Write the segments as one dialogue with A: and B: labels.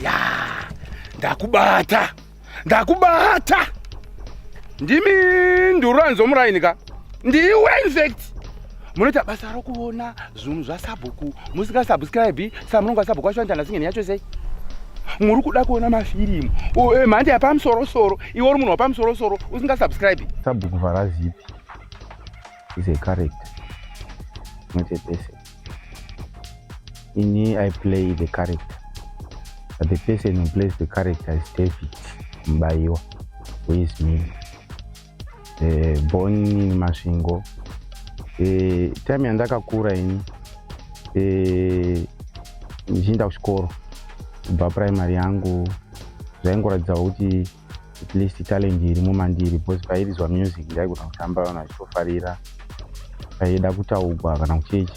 A: ya ndakubata ndakubata ndimi nduranzo muraini ka ndiwe infect munoita basa rokuona zvinhu zvasabhuku musingasubscribe sa munongo asabhuku wacho anitana singeni yacho sei muri kuda kuona mafirimu eh, mhandi yapamusorosoro iwe uri munhu wapamusorosoro usingasubscribe sabhuku vharazipi
B: is a character not a person ini i play the character but the person who plays the character is david mbayiwa who is me uh, born in masvingo uh, time yandakakura ini eh, ndichienda uh, kuchikoro kubva primary yangu zvaingoratidzawo kuti at least talent irimo mandiri because pairizwa music ndaigona kutamba vanhu vachitofarira paida kutaugwa kana kuchechi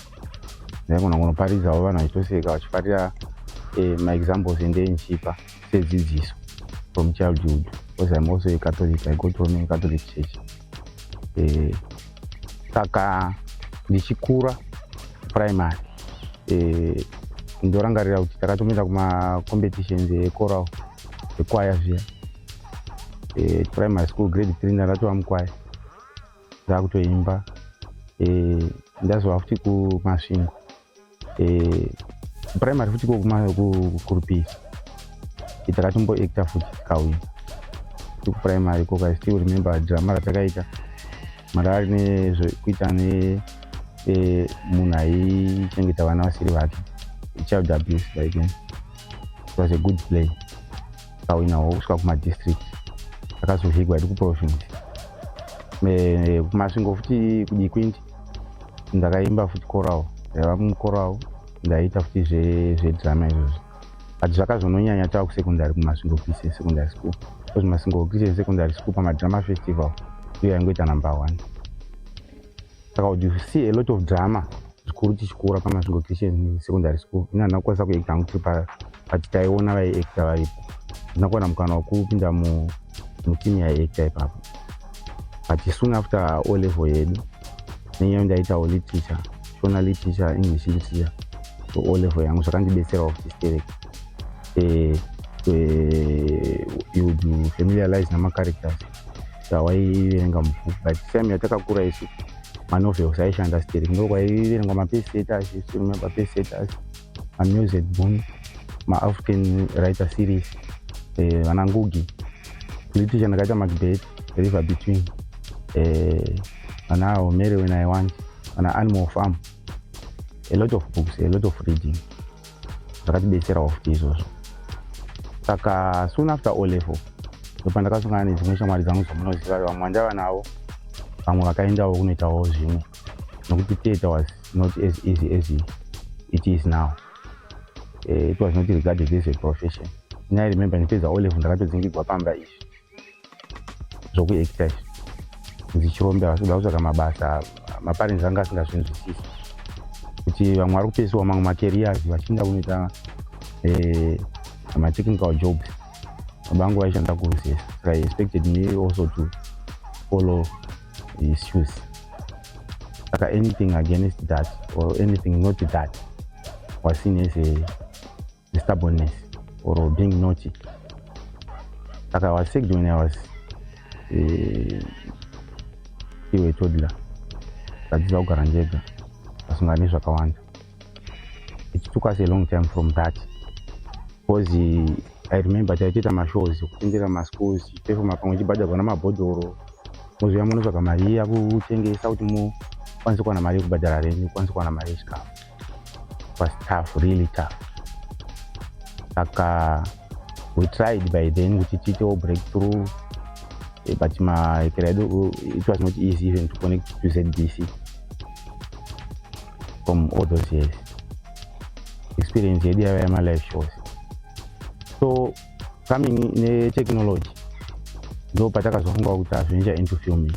B: ndaigona kunoparidzawo vanhu vachitoseka vachifarira eh, maexamples ende enchipa sedzidziso from childhood because im also a catholic i go to a catholic church eh, saka ndichikura primary eh, ndorangarira kuti takatomira kumacompetitions ecoral zvekwaya zviya e, primary school grade three ndatova mukwaya ndakutoimba e, ndazova futi kumasvingo e, primary futi kokurupiri takatombo acta futi kauya kuprimary koka still remember drama ratakaita Marari nezvekuita ne eh, munhu aichengeta vana vasiri vake child abuse like it was a good play akawinawo kusvika kumadistrict akazovigwa iri kuprovince eh, kumasvingo futi kudikwindi ndakaimba futi coral ndaiva mucoral ndaiita futi zvedrama izvozvo but zvakazononyanya tava kusecondary kumasvingo christian secondary school because masvingo christian secondary school pamadrama festival iyo yaingoita number one saka would you see a lot of drama zvikuru tichikura pamasvingo christian secondary school ini handina kukwanisa kuekta ngu tiri but taiona vaiekta varipo handina kuwana mukana wekupinda mutimu yaiekta ipapo but soon after o level yedu nenyaya ndaitawo literature shona literature english literature so o level yangu zvakandibetserawo kuti stereke eh, eh, you familiarize namacharacters tawaiverenga mubhuku but time yatakakura isu manovels aishanda stereke ndo kwaiverengwa mapesetas remember pesetas mamusic boom maafrican writer series eh, vanangugi politician ndakaita madebate river between eh, ana uh, omere when i want ana animal farm a lot of books a lot of reading zvakatibetserawo futi izvozvo saka soon after o level ndopa ndakasongana nedzimwe shamwari dzangu dzomunoziva vamwe vandava navo vamwe vakaendawo kunoitawo zvimwe nokuti theatre was not as easy as it is now uh, it was not regarded as a profession ini i remember ndipedza olevel ndakatodzingigwa pamba izvi zvokuacta izvi ndichirombe havasi kuda kutsvaka mabasa maparents anga asingazvinzwisisi kuti vamwe vari kupesiwa mamwe macareers vachiinda kunoita eh, matechnical jobs baba vangu vaishanda kurusesa saka i expected me also to follow issues saka anything against that or anything not that was seen as a stubbornness or being naughty saka i was sick when i was uh, iwe toddler ndadziza kugara ndega pasingani zvakawanda it took us a long time from that because i remember taitiita mashows kufundira maschools tichipefoma pamwe chibhadharwa namabhodhoro mozouya munotsvaga mari iya kutengesa kuti mukwanise kuwana mari yekubhadhara renyu kwanise kuwana mari yechikafu was tough really tough saka we tried by then kuti tiitewo break through eh, but maekera edu it was not easy even to connect to zbc from all those years experience yedu yava yamalife shows so coming netechnology ndo patakazofunga kuti hazvinja into filming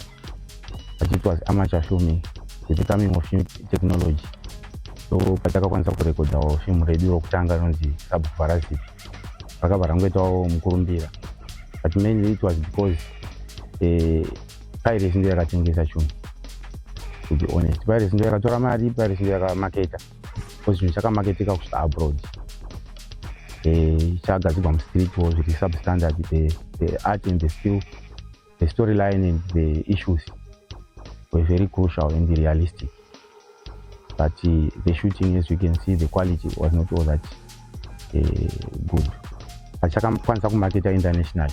B: but it was amateur filming with the coming of new technology so patakakwanisa kurekodhawo film redu rokutanga rinonzi sabhuvharazipi rakabva rangoitawo mukurumbira but mainly it was because uh, pirates ndiyo yakatengesa chunhu to be honest pirates ndiyo yakatora mari pirates ndiyo yakamaketa because chinhu chakamaketeka kusvika abroad eh, chagadzigwa mustreet wo zviri substandard the, the art and the skill the story line and the issues were very crucial and realistic but uh, the shooting as you can see the quality was not all that uh, good pachakamukwanisa kumarketa international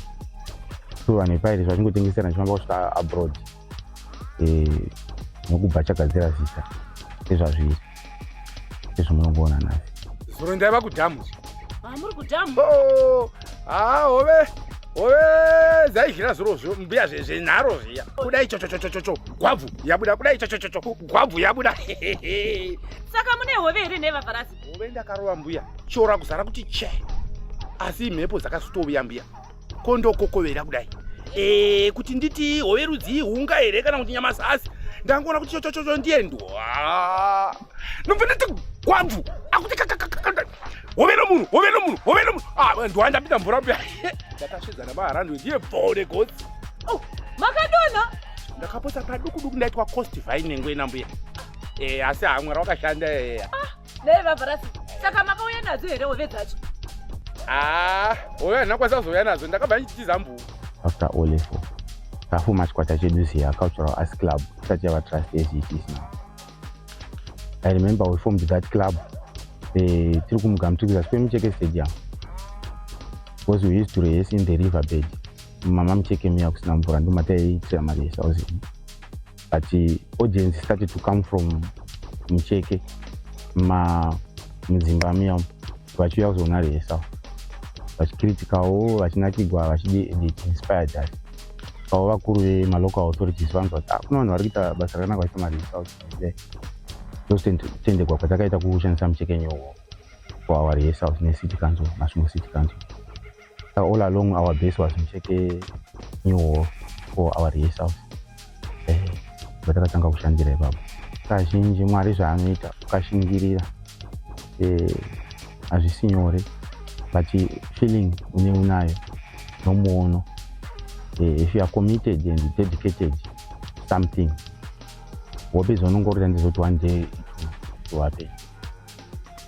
B: so vanhu vepirates vachingotengeserana chifamba kusvika abroad uh, nokubva chagadzira zita ezvazviri ezvomunongoona nhasi zuro ndaiva
A: kudhamu ah, muri kudhamu
C: oh! haa hove
A: hove dzaizhira zvirozvo mbuya zvenharo zviya kudai chochochochocho gwabvu yabuda kudai chochochocho gwabvu yabuda
C: saka mune hove here nevafarasi hove ndakarova mbuya
A: shora kuzara kuti che asi imhepo dzakasitovuya mbuya kondokokovera kudai e, kuti nditi hove rudzii hunga here kana kuti nyamasasi ndangoona kuti chochochocho ndiye ndwa nobva ndati gwabvu akuti kakakakaka hove nomunhu hove nomunhu hove nomunhu ah, ndiwandapinda mvura mbuya ndakasvedza namaharandwe ndiye bvode gotsi oh, makadona
C: ndakapotsa
A: paduku duku ndaitwa cost vine nenguye nambuya eh, asi haa mwari wakashanda eh, eh. ah, nei
C: vavarasi saka makauya nadzo here hove dzacho haa ah,
A: hove handina kwanisa kuzouya nadzo ndakabva ndichitiza mbuvu after all efo
B: tafuma chikwata chedu ziya cultural as club tisati yava trust as it is now i remember we formed that club eh, tiri kumugamtukisa sipemucheke stadium because we used to rehes in the river bed mama mucheke muya kusina mvura ndomataiitira marehesa uzi but eh, audience started to come from mucheke ma mudzimba muya vachiuya kuzoona rehesa vachikritikawo vachinakigwa vachiinspired that avo vakuru vemalocal authorities vanzwa kuti ah, kune vanhu vari kuita basa rakanaka vachiita mari south ndositendegwa kwatakaita kushandisa muchekenyowo for our rehesals necity council masvimo city council Uh, all along our base was mucheke new hall for our rehearsals eh, vatakatanga kushandira ipapo kazhinji mwari zvaanoita ukashingirira eh, hazvisi nyore but feeling une unayo nomuono eh, if you are committed and dedicated something hope izonongorira ndizoti one day it will happen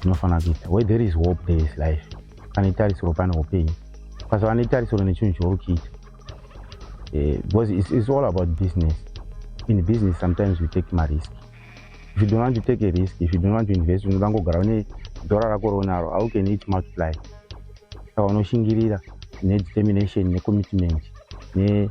B: tinofanira kuita where there is hope there is life pane tarisiro pane upenyu ukasava netarisiro nechinhu chouri kuita eh, because it's, it's all about business in business sometimes you take marisk if you don't want to take a risk if you don't want to invest unoda ngogara une dhora rako rounaro how can it multiply saka unoshingirira nedetermination necommitment ne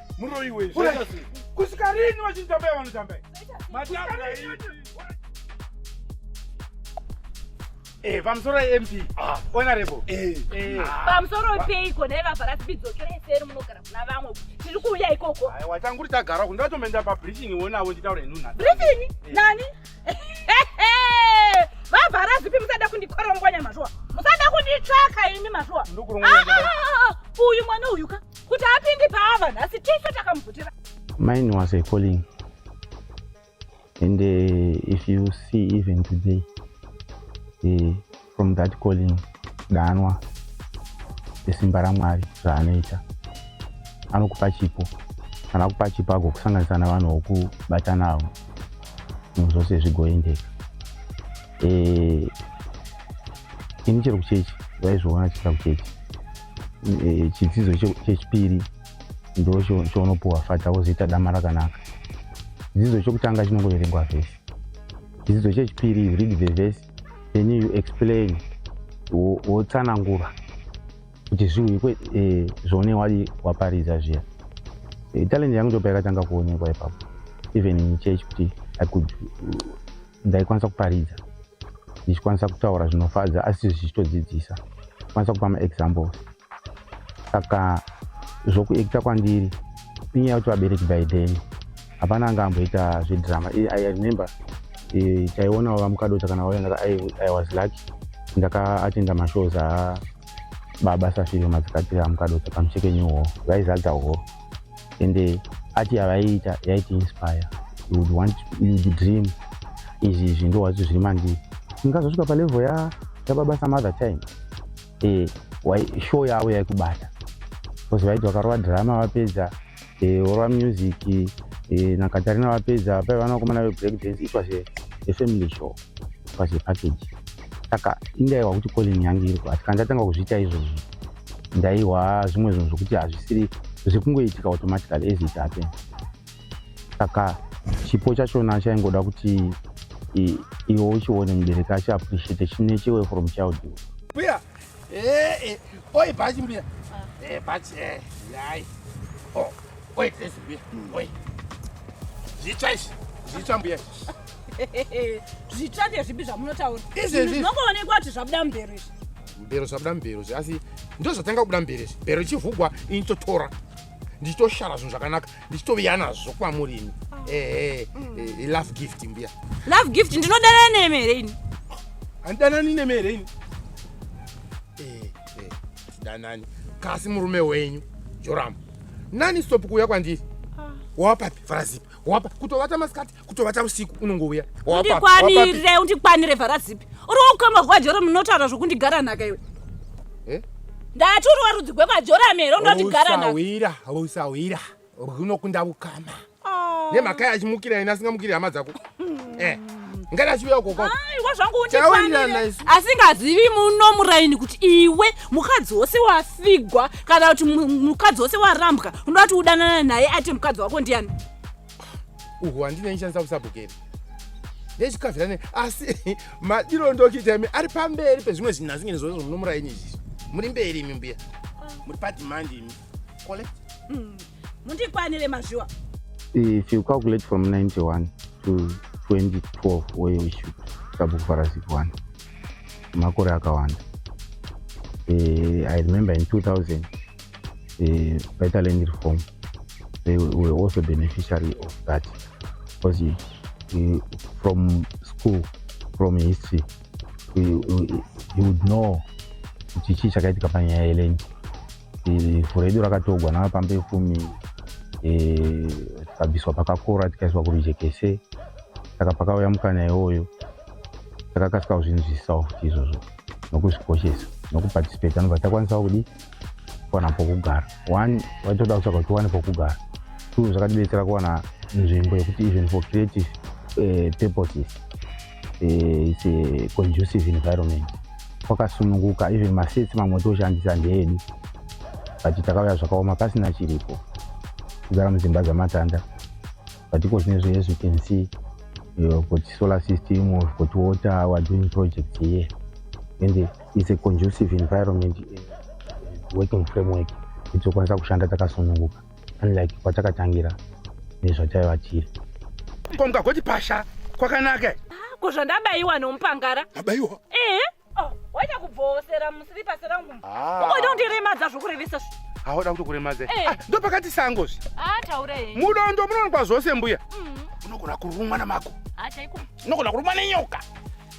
A: muroyi we kusvika rini vachitambaya vanotambaya Eh, pamusoro MP. Ah, honorable. Eh. eh. Ah.
C: Pamusoro peiko dai vavhara tibidzokera iseri munogara kuna vamwe. Tiri kuuya ikoko. Hai, watanguri tagara
A: kunge vatomenda pa briefing wonawo nditaure nuna. Briefing? Eh. Nani?
C: Vavhara zipi musada kundikorongwanya mazhuwa. Musada kunditsvaka ini mazhuwa. Ndokurongwanya. Ah, ah, ah, uyu mwana uyu ka. kuti apindi paava nhasi tese takamubvutira mine was a
B: calling and uh, if you see even today uh, from that calling danwa esimba ramwari zvaanoita anokupa chipo kana akupa chipo agokusanganisa navanhu vokubata navo zvinhu zvose zvigoendeka eh, ini chero kuchechi vaizviona chita kuchechi e, chidzidzo chechipiri ndo chaunopuwa fata wozoita dama rakanaka chidzidzo chokutanga chinongoverengwa vhesi chidzidzo chechipiri you read the vhesi then you explain wotsanangura kuti zviuikwe e, zvaune wadi waparidza zviya e, talent yangu ndopa yakatanga kuonekwa ipapo even in church kuti i could ndaikwanisa kuparidza ndichikwanisa kutaura zvinofadza asi zvichitodzidzisa kwanisa kupa maexamples saka zvokuekita kwandiri inyaya yakuti vabereki by then hapana anga amboita zvedrama i remember e, taionawo vamukadota kana vaenda i was lucky ndakaatinda mashows a baba safiro madzikatira amukadota pamucheke new hall vaizadza hall and uh, art yavaiita yaiti inspire you would want you would dream izvi izvi ndo wacho zviri mandiri ndikazosvika palevel ya yababa some other time eh wai show yavo yaikubata because vaiti vakarova drama vapedza eh orova music eh na Katarina vapedza pai vana vakomana ve break dance it was a, a family show it was a package saka indaiwa kuti calling yangu iri kwati kana ndatanga kuzviita izvozvo ndaihwa zvimwe zvinhu zvokuti hazvisiri zvekungoitika automatically as it happen saka chipo chachona chaingoda kuti iwe uchione mubereki achi appreciate chine chiwe from child mbuya
A: eh, eh, oi bhachi mbuya eh, bhachi yai oh, oi dress mbuya hmm. oi zvitsva izvi zvitsva mbuya zvitsva
C: ndezvipi zvamunotaura izvezvinongoonekwa
A: kuti zvabuda
C: mubhero izvi mbero zvabuda mbero
A: zve asi ndo zvatanga kubuda mbere zve mbero ichivhugwa ini totora ndichitoshara zvinhu zvakanaka ndichitoviya nazvo kwamuri ini ehe mm. eh, eh, love gift mbuya love gift ndinodanana
C: nemi here ini handidanani
A: nemi here ini eh, tidanani kasi murume wenyu joramu nani stop kuuya kwandiri ah. wawapapi farazipi wapa kutovata masikati kutovata usiku unongouya undikwanire
C: undikwanire vhara zipi uri wokukama kwajora munotaura zvokundigara nhaka iwe eh? ndati uri warudzi gwekajora mero ndoti gara nhausahwira usahwira
A: runokunda ukama ah. nemhaka yachimukira ina asingamukiri hama dzako hmm. eh ngati achiuya ukokoaiwa zvangu undifanire
C: asingazivi muno muraini kuti iwe mukadzi wose wafigwa kana kuti mukadzi wose warambwa unoda kuti udanana naye ati mukadzi wako ndiani
A: uhu handine nchanisa kusabhukeri nechikavirane asi madiro ndokuita imi ari pamberi pezvimwe zvinhu asi ngene zvozvo munomuraini izvizvi muri mberi imi mbuya muri padimandi imi kole mm.
C: mundikwanire mazviwa if you
B: calculate from 91 to 2012 oye issue sabhuku farasiki wani makore akawanda eh, i remember in 2000 ukaita land reform they were also beneficiary of that because you, you, from school from history you, you, you would know kuti chii chakaitika panyaya yeland furo yedu rakatogwa navapambi vekumi tikabviswa pakakora tikaiswa kurujekese saka pakauya mukana iwoyo takakasikawo zvinhu zvisisawo futi izvozvo nokuzvikoshesa nokuparticipate anobva takwanisawo kudii kuwana pokugara one vaitoda kutsvaga kuti tiwane pokugara two zvakatibetsera kuwana nzvimbo yekuti even for creative uh, purposes uh, its a conducive environment kwakasununguka even masets mamwe toshandisa ndeedu but takauya zvakaoma pasina chiripo kugara mudzimba dzamatanda but iko zvine zve as you can see you've got solar system we've got water we're doing projects here and is a conducive environment eh, working framework kuti tokwanisa kushanda takasununguka unlike kwatakatangira nezvataiva tiri ko mukagoti
A: pasha kwakanaka ah, ko zvandabayiwa
C: nomupangara abayiwa ehe
A: oh,
C: waita kubvowosera musiripasi rangu ah. ukoita kundiremadza zvokurevesa zvi haoda kutokuremadza
A: eh. ah, ndo pakati sango zvi
C: mudondo munononkwa
A: zvose mbuya mm. unogona kurumwa namako unogona kurumwa nenyoka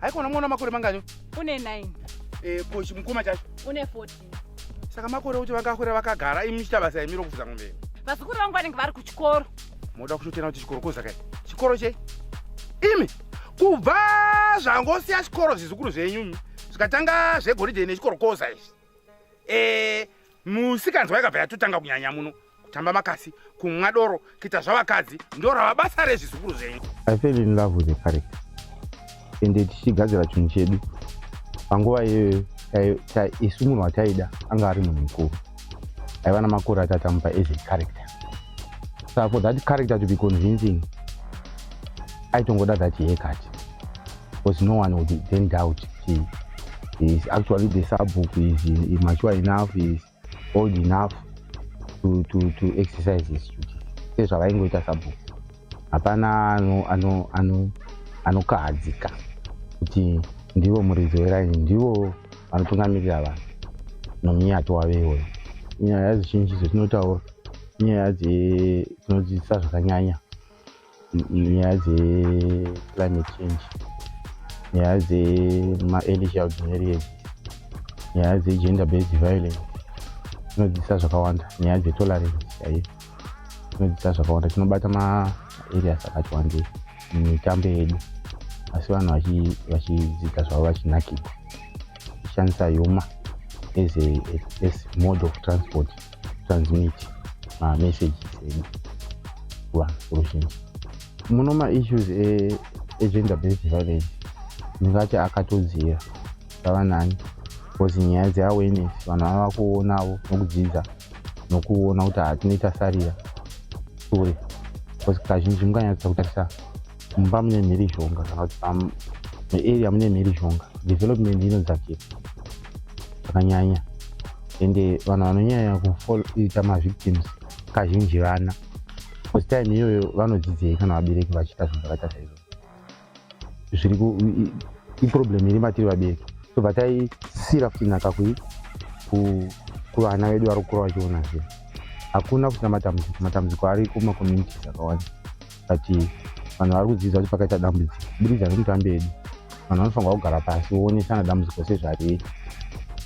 A: haikona mwana makore mangani une 9
C: eh ko chimukoma
A: chacho une 14
C: saka makore
A: kuti vakakura vakagara imi muchita basa yemiro kufuza ngombe vazukuru vangu vanenge vari
C: kuchikoro moda kuchotena kuti
A: chikoro koza kai chikoro chei imi kubva zvangosiya chikoro zvizukuru zvenyu zvikatanga zvegoridhe nechikoro koza izvi e, musikanzwa yakabva yatotanga kunyanya muno kutamba makasi kumwa doro kuita zvavakadzi ndo rava basa rezvizukuru zvenyu i fell in love with
B: the character ende tichigadzira chinhu chedu panguva iyoyo isu munhu wataida anga ari munhu mukuru aiva namakore atatamupa as a character so for that character to be convincing aitongoda that haircut because no one would then doubt he is actually the subbook is mature enough is old enough to, to, to exercise his duty sezvavaingoita subbook hapana anokahadzika ano, ano, ano kuti ndivo muridzi weraini ndivo vanotungamirira vanhu nomiyato wave iwoyo nyaya zizhinji dzatinotaura inyaya dzetinodzidzisa zvakanyanya nyaya dzeclimate change nyaya dzemaearly child marriage nyaya dzegender based violence tinodzidzisa zvakawanda nyaya dzetolerance chaiyo tinodzidzisa zvakawanda tinobata maareas akati wandei mumitambo yedu asi vanhu vachidzidza zvavo vachinakidza tichishandisa yuma as a mode of transport transmit mamessage edu kuvanhu kuruzhinji muno maissues egender based violence ndingati akatodzira vava nani bcause nyaya dzeawareness vanhu vava kuonavo nokudzidza nokuona kuti hatinoita sarira sure bcause kazhinji mukanyatsa kutarisa mumba mune mhirizhonga kana kuti muarea mune mhirizhonga development inodzakira zvakanyanya ende vanhu vanonyanya kuita mavictims kazhinji vana bcause time iyoyo vanodzidzei kana vabereki vachiita zvinhu zvakaita saizvo zviri iproblem iri matiri vabereki so batai sira futi nhaka kui kuvana vedu vari kukura vachiona zvinhu hakuna futi namatambudziko matambudziko ari kumacommunities akawanda but vanhu vari kudzidza kuti pakaita dambudziko kuburikidza nemutambi edu vanhu vanofanirwa kugara pasi voonesana dambudziko sezvariri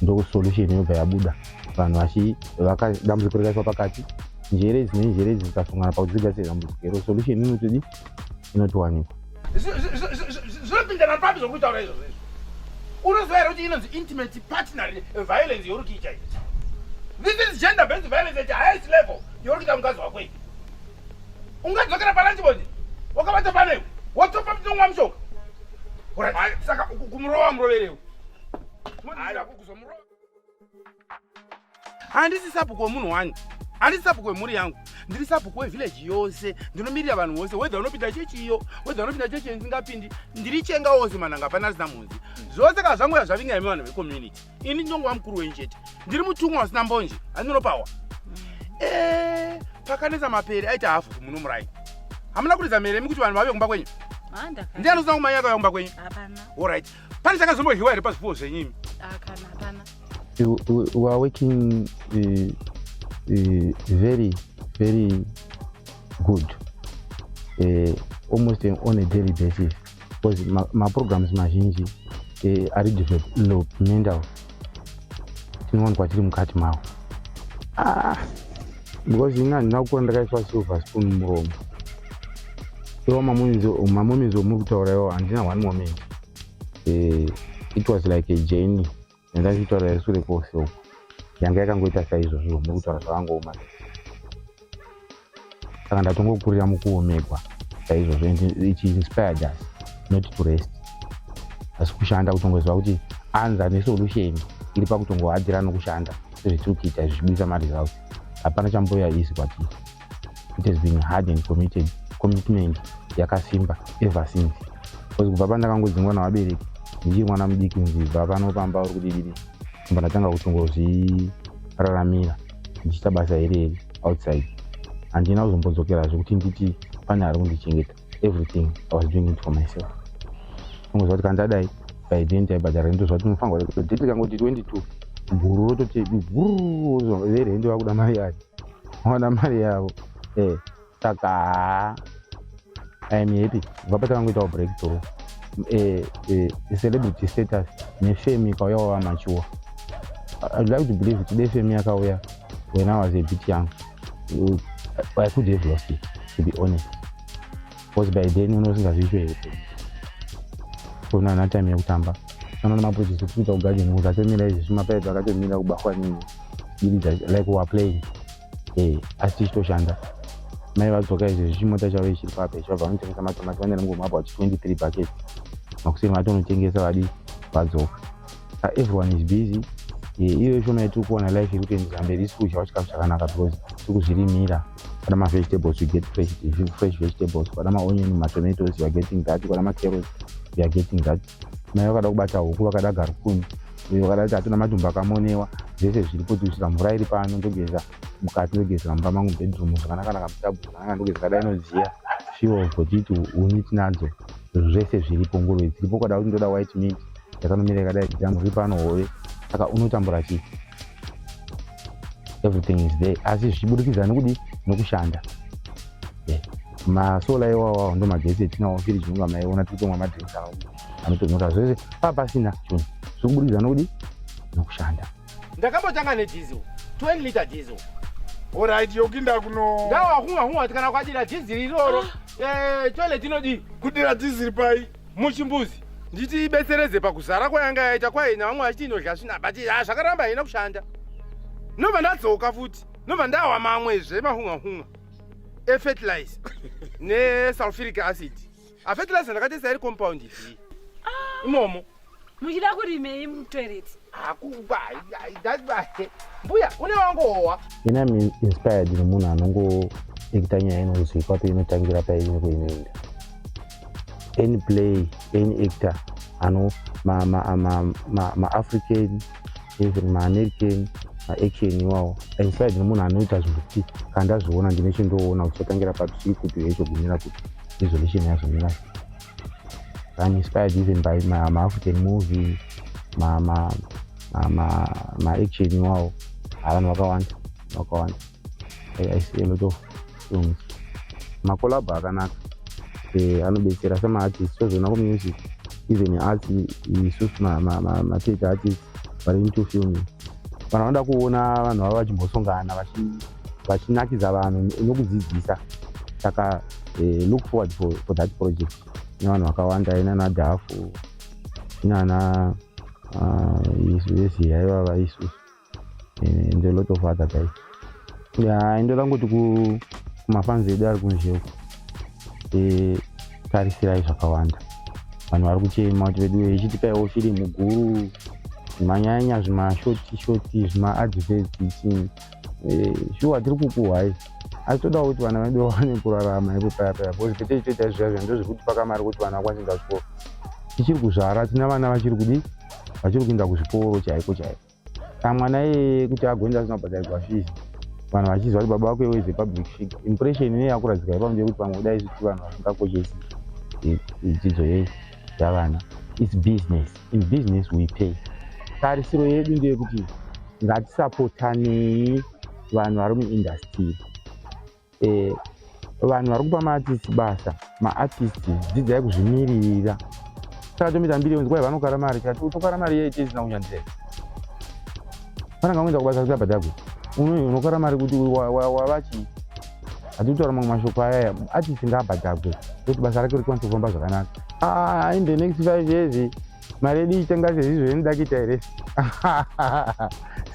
B: ndokusolution yobva yabuda vanhu vadambudziko rikaiswa pakati njere idzi nenjere idzi dzikasongana pakudzigadzira dambudziko iro solution inotidi inotiwanikwa
A: zvinopindana papi zvokutaura izvozvo izvo unoziva here kuti inonzi intimate partner violence youri kuita izi this is gender based violence at highest level youri kuita mukadzi wako ivi ungadzokera palanji bonje wakabata panewe wotopa mutonwa mushonga saka kumurova muroverewo handisi sabhuku wemunhu wani handisi sabhuku wemhuri yangu ndiri sabhuku wevhileji yose ndinomirira vanhu vose wedha unopinda chechi iyo wedha unopinda chechi isingapindi ndiri chenga wose mananga hapana asina mhunzi zvose kana zvangoya zvavinga imi vanhu vecommunity ini ndongova mukuru wenyu chete ndiri mutumwa wasina mbonje andinopawa eh, pakanetsa mapere aita hafu kumuno murai hamuna kuridza mhere mi kuti vanhu vave kumba kwenyu ndi anosina kumanya akauya kumba kwenyu orit pane chakazombohiwa here pazvipuwo zvenyimi
B: we are working uh, uh, very very good uh, almost on a daily basis because maprograms mazhinji eh, ari developmental tinowanikwa tiri mukati mawo ah, because ini handina kukura ndakaiswa silver spoon muromo iwo mamomenzi omuri kutaura iwo handina one moment eh, it was like a journey yandaitaura yesure kwose uko yanga yakangoita saizvozvo nekutaura zvakangooma saka ndatongokurira mukuomegwa saizvozvo ichi inspired us not to rest asi kushanda kutongoziva kuti anza nesolution iri pakutongohadzira nokushanda sezvitiri kuita izvi zvibudisa maresults hapana chamboya isi kwatiri it has been hard and committed commitment yakasimba ever since bcause kubva pandakangodzingwa navabereki ndichiri mwana mudiki nzibva pano pamba uri kudidiri mba ndatanga kutongozviraramira ndichiita basa iri iri outside handina kuzombodzokerazve kuti nditi pane ari kundichengeta everything i was doing it for myself ungoziva kuti kandadai by then taibhadhara rento zva tinofanirwa date rikangoti 22 guru rototi guru verento vakuda mari yacho vaona mari yavo eh, saka haa i am happy kubva patakangoitawo breakthrough eh, eh, celebrity status nefame ikauya wava machuwa i'd like to believe kuti defame yakauya when i was a bit young uh, i could have lost it to be honest because by then unenge usingazviitwe here kuona ana time yekutamba anoona maproject kuita kugaja nekuti atomira izvi zvimapaedzo akatomira kubahwa nini diridza like wa playing eh asi tichitoshanda mai vadzoka izvi zvichimota chavo ichiri pape chavabva vanotengesa matomati vanera ngomabwa chi 23 bucket makuseni vatonotengesa vadi vadzoka ah, everyone is busy eh, iyo ishoma yatiri kuona life iri kuendera mberi isi kudyawo chikafu chakanaka because tiri kuzvirimira kwada mavegetables we get fresh, fresh vegetables kwada maonion matomatoes youare getting that kwada macarots youare getting that mai vakada kubata huku vakada garukuni uyo vakada kuti hatuna madhumba akamonewa zvese zviri kuti kusvika mvura iri pano ndogeza mukati ndogezera mumba mangu bedroom zvakanakanaka mutabu zvakanaka ndogeza kadai inoziya fiwo votiti uni tinadzo zvese zviripo nguruve dziripo kwada kuti ndoda white meat yakanomira yakadai exam ri pano hove saka unotambura chii everything is there asi zvichibudikidza nekudi nekushanda eh, masola iwawawo ndo magetsi etinawo firi chinonga maiona tikutomwa madrinks awo anotonyoka zvese paa pasina chunhu zviri kubudikidza nekudi nekushanda ndakambotanga
A: nedizil 20 liter diesel orit
D: yokinda kuno ndawakunga hunga kuti kana
A: kwadira dhiziri iroro ah. eh, toilet inodii kudira dhiziri
D: pai muchimbuzi
A: nditi ibetseredze pakuzara kwayanga yaita kwaye navamwe vachiti inodya svina but ha zvakaramba haina kushanda nobva ndadzoka futi nobva ndawa mamwezve mahungahunga efertilize nesulfuric acid afetilise ndakatesa iri compound idii ah. imomo muchida
C: kurimei mutoilet
A: mbuya une wangohowa ini am
B: inspired nemunhu anongoekita nyaya inonzwi kwapi inotangira paine kuinoenda any play any actor ano maafrican even maamerican maaction iwawo inspired nemunhu anoita zvinhu kuti kandazviona ndine chindoona kutotangira papi sii kupi yeizogumira kuti resolution yazomira I'm inspired even by ma, ma African movie ma ma ma ma, ma action iwawo avanhu vakawanda vakawanda I, I see a lot of films makolabho akanaka eh, anobetsera semaartist tozoona kumusic even arts isu matete artist vari into filming vanhu vanoda kuona vanhu vavo vachimbosongana vachi vachinakidza vanhu nokudzidzisa saka eh, look forward for, for that project ine vanhu vakawanda ina na dafu inana ah, isu vese yaiva vaisu eh, and a lot of other guys ya ndo langoti kumafanzi edu ari kunzheu eh, tarisirai zvakawanda vanhu vari kuchema kuti vedu ichitikaiwo firimu guru zvimanyanya zvimashoti shoti zvimaadverts ichini eh, shuwa tiri kukuhwa isi asi todawo kuti vana vedu vawane kurarama ipo paya paya bcause pete ichoita zviya zviya ndozvekuti pakamari kuti vana vakwanise kuenda zvikoro tichiri kuzvara tina vana vachiri kudii vachiri kuenda kuzvikoro chaiko chaiko ka mwana iyeye kuti agoenda asina kubhadharirwa fizi vanhu vachiziva kuti baba vako iweze public figure impression ine yakuradzika ipa mnje kuti vamwe kudai isuti vanhu vasingakoshesi dzidzo yese zvavana its business in business we pay tarisiro yedu ndeyekuti ngatisapotanei vanhu vari muindastiri eh, vanhu vari kupa maartist basa maartist dzidzai kuzvimiririra saka tomiita mbiri yonzi kwai vanokara mari kati utokara mari yaite isina kunyanzira vananga kuenda kubasa kuti abhadhagwe unokara mari kuti wavachii atitaura mamwe mashoko ayaya achisinga abhadhagwe kuti basa rake rikwanisa kufamba zvakanaka ah, in the next five years mari yedu ichitenga sezizvo inoda kuita here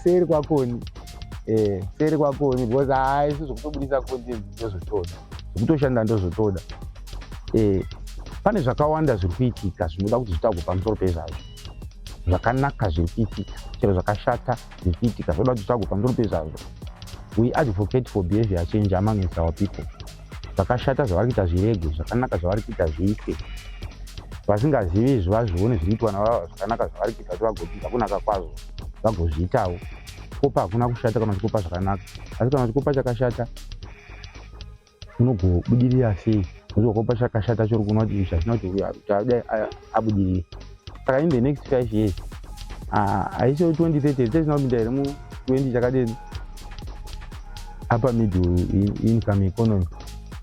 B: seri kwakoni eh, seri kwakoni because haisi ah, zvokutobudisa content ndozvotoda zvekutoshanda ndozvotoda eh, pane zvakawanda zviri kuitika zvinoda kuti zvitagwe pamusoro pezvazvo zvakanaka zviri kuitika chero zvakashata zvichiitika zvoda kuti tsvago pamusoro pezvazvo we advocate for behavior change among is our people zvakashata zvavari kuita zviregwe zvakanaka zvavari kuita zviite vasingazivi izvi vazvione zviri kuitwa navava zvakanaka zvavari kuita kuti vagopinza kunaka kwazvo vagozviitawo kupa hakuna kushata kana chikupa zvakanaka asi kana chikupa chakashata unogobudirira sei nokuti wakopa chakashata chori kuona kuti ichi hachina kuti adai abudirire saka in the next five years haisi kuti twenty thirty tisina kupinda here mu twenty chakadini apa middle income economy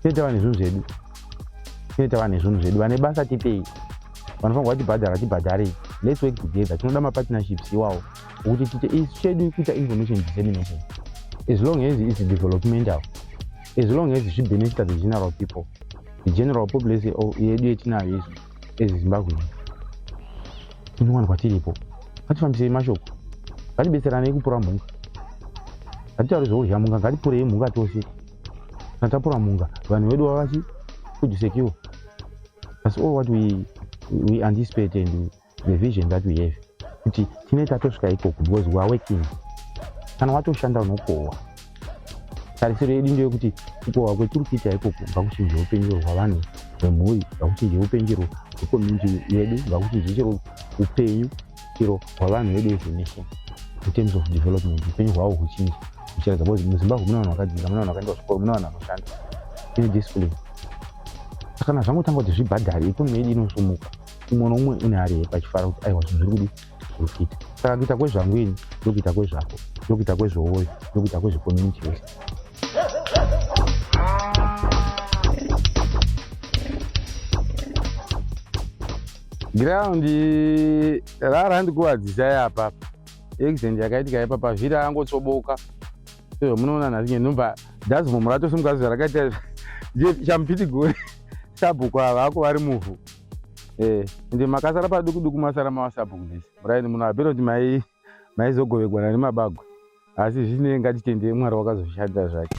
B: tine tava nezvinhu zvedu tine tava nezvinhu zvedu vane basa tipei vanofanirwa tibhadhara tibhadharei let's work together tinoda mapartnerships iwawo kuti tite isu chedu kuita information dissemination as long as its developmental as long as zvibenefita the general people the general population yedu yetinayo isu as zimbabwean tinowanikwa tiripo ngatifambisei mashoko ngatibetseranei kupura mhunga ngatitauri zvoudya mhunga ngatipurei mhunga tose kana tapura mhunga vanhu vedu vavachi kudisecure that's all what we, we anticipate and we, the vision that we have kuti tine tatosvika ikoko because we are working kana watoshanda unokohwa tarisiro yedu ndeyo kuti kukohwa kwetiri kuita ikoko ngakuchinje upenjero hwavanhu vemhuri ngakuchinje upenjero hwekomuniti yedu ngakuchinje chero upenyu chero hwavanhu vedu as a nation in terms of development upenyu hwavo huchinje huchiratidza because muzimbabwe mune vanhu vakadzidza mune vanhu vakaenda kuzvikoro mune vanhu vanoshanda ine discipline kana zvangotanga kuti zvibhadhare ikonomi yedu inosumuka umwe noumwe une hari yake achifara kuti aiwa zvinhu zviri kudi zviri kuita saka kuita kwezvangu ini ndokuita kwezvako ndokuita kwezvooyo ndokuita kwezvekomuniti yose giraundi rara ndikuvadzisa yapapa accident yakaitika yaipa pavhiri angotsoboka so munoona nhasi nyenumba dhazimomurato semukazi zvarakaita champitigori sabhuku ava ako vari muvhu eh ende makasara paduku duku masara mawasabhu kudisi muraini muno apera kuti mai maizogovegwana nemabagwe asi zvisinei ngatitende mwari wakazoshanda zvake